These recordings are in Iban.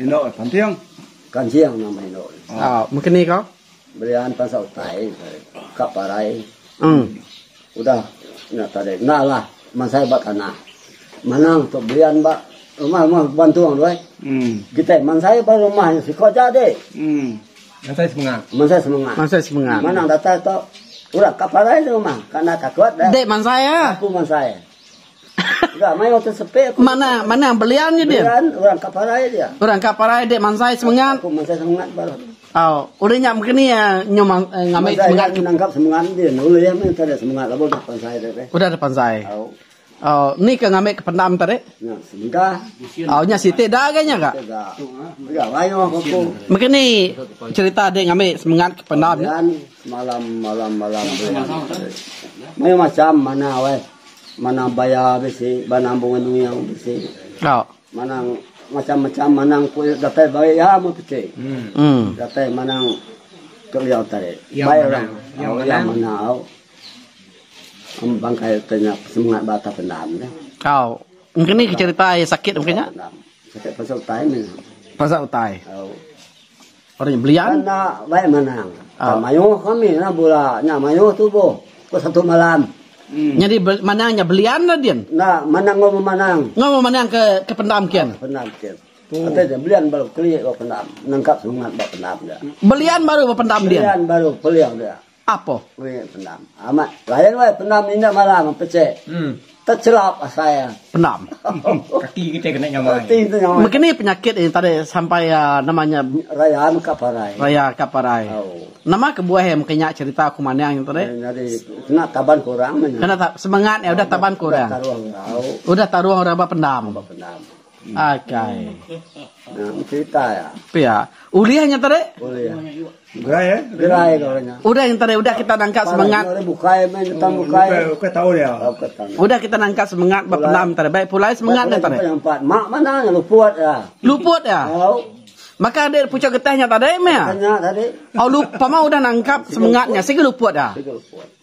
Endo eh panting. Kancing nama endo eh. Ha maka ni ka. Berian pasal utai ka parai. Um. Udah nya tadi enda lah mansai ba tanah. Manang tu berian ba rumah rumah bantung tu eh. Um. Kitai mansai ba rumah nya siko aja ade. Um. Mansai semengah. Mansai semengah. Mansai semengah. Manang datai tu udah ka parai rumah. Ka enda takut dah. Dek mansai ah. Aku mansai. Manah manah belian nya din. Orang ka parai dia. Orang ka parai dia mansai semengat. Aku mansai semengat baru. Au, ulih nya begini ya nyu ngamai semengat kita. Nangkap semengat din. Ulih ya meh tadi semengat labo dah pansai tadi. Udah dah pansai. Au. Au, ni ke ngamai ke pendam tadi. Nya semegah. Au nya siti da ga nya ga. Siti da. Begini cerita dia ngamai semengat ke pendam. Malam malam malam Mayuh masam mana weh. Mana baya bisi, mana bunga nuyang bisi. Mana macam macam mana ku datai bagi iya mun piti. Datai mana tu iya tadi. Bai orang iya mana au. Amun bangkai tu nya semangat ba atas pendam nya. Engkini ke cerita ai sakit mungkin nya. Sakit pasal utai meh. Pasal utai. Ari belian. Enda baik manang. Ka ah. mayuh kami na bula nya mayuh tubuh. Ko satu malam. Hmm. Jadi manang nya belian na din. Enda manang ngau memanang. Ngau memanang ke ke pendam kian. Ah, pendam kian. Hmm. Kata dia belian baru klik ke pendam. Nangkap semangat ba pendam dia. Belian baru ba pendam dia. Belian baru peliang dia. Apo. Wei pendam. Amat. Layan wei pendam minda malam ape che. Techelap asai iya. Pendam. Kaki kite kena nyamai. Kaki kite nyamai. Mega ni penyakit e tadi sampai a nama nya. Raya meka parai. Raya ka parai. Au. Nama kebuah e mega nya cherita aku mandang nya tadi. Nyadi kena taban ke orang meh nya. Kena ta semengat nya udah taban ke orang. Udah taruh orang au. Udah taruh orang ba pendam. Ba pendam. Akai. Nah, cerita ya. Pia. Ulih nya tadi. Ulih. Gerai eh. Gerai ke orangnya. Udah yang tadi udah kita nangkap semangat. Udah bukai main tentang oh, bukai. Bukai tahu dia. Oh, udah kita nangkap semangat berpendam tadi. Baik pulai semangat nya tadi. Yang empat. Mak mana yang luput ya. Luput ya. Oh. Maka ada pucuk getahnya tadi meh. Tanya tadi. Oh lupa mah udah nangkap semangatnya. Sigi luput ya. Sigi luput.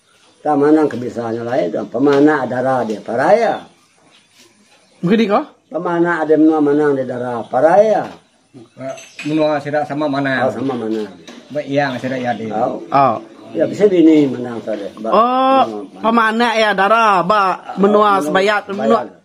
Tang manang ke bisa nya alai tu pemanak dara dia parai ya. Mungkin diko? Pemanak ada menua manang dia dara parai ya. Menua sida sama manang. Oh, sama manang. Ba yang sida ya di. Oh. oh. Ya bisa bini manang sida. Oh, pemanak ya dara ba menua sebayat menua.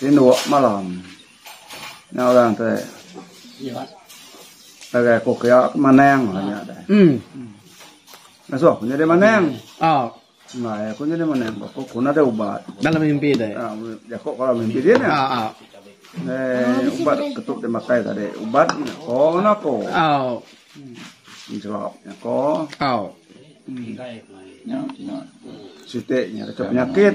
Tinduk malam nya orang tu ngagai ku kiya ke Manang lah nya deh. Ngasuh aku nyadi Manang. Enggai aku nyadi Manang ba aku pun ada ubat. Dalam mimpi deh. Ha jaku dalam mimpi dia nya. Deh ubat ke tu deh makai tadi. Ubat nya ko nganak aku. Penjelap nya ko. Siti nya penyakit.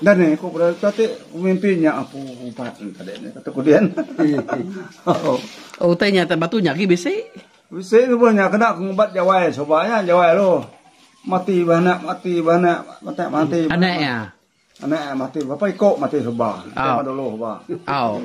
Enda neh ku bra tu ti mimpi nya apu ubat tadi neh kata ku dian. Utai nya atas batu nya agi bisi. Bisi nubuh nya kena ngubat jawai suba nya jawai lu. Mati ba anak mati ba anak mati mati. Anak iya. Anak iya mati berapa iko mati suba. Au. Dulu suba. Au.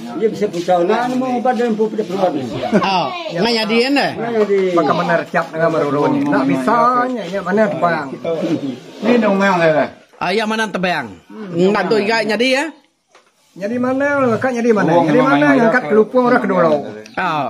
Iya bisa pucau nah nemu ubat dan empu peda peluan. Oh, ngai jadi kan dah. Maka benar cap dengan meruru ni. Nak bisa nya ya mana tebang. Ni nang mang dah. Ah, ya mana tebang. Nang tu iga jadi ya. Jadi mana, kak jadi mana. Jadi mana angkat kelupung orang kedua. Oh.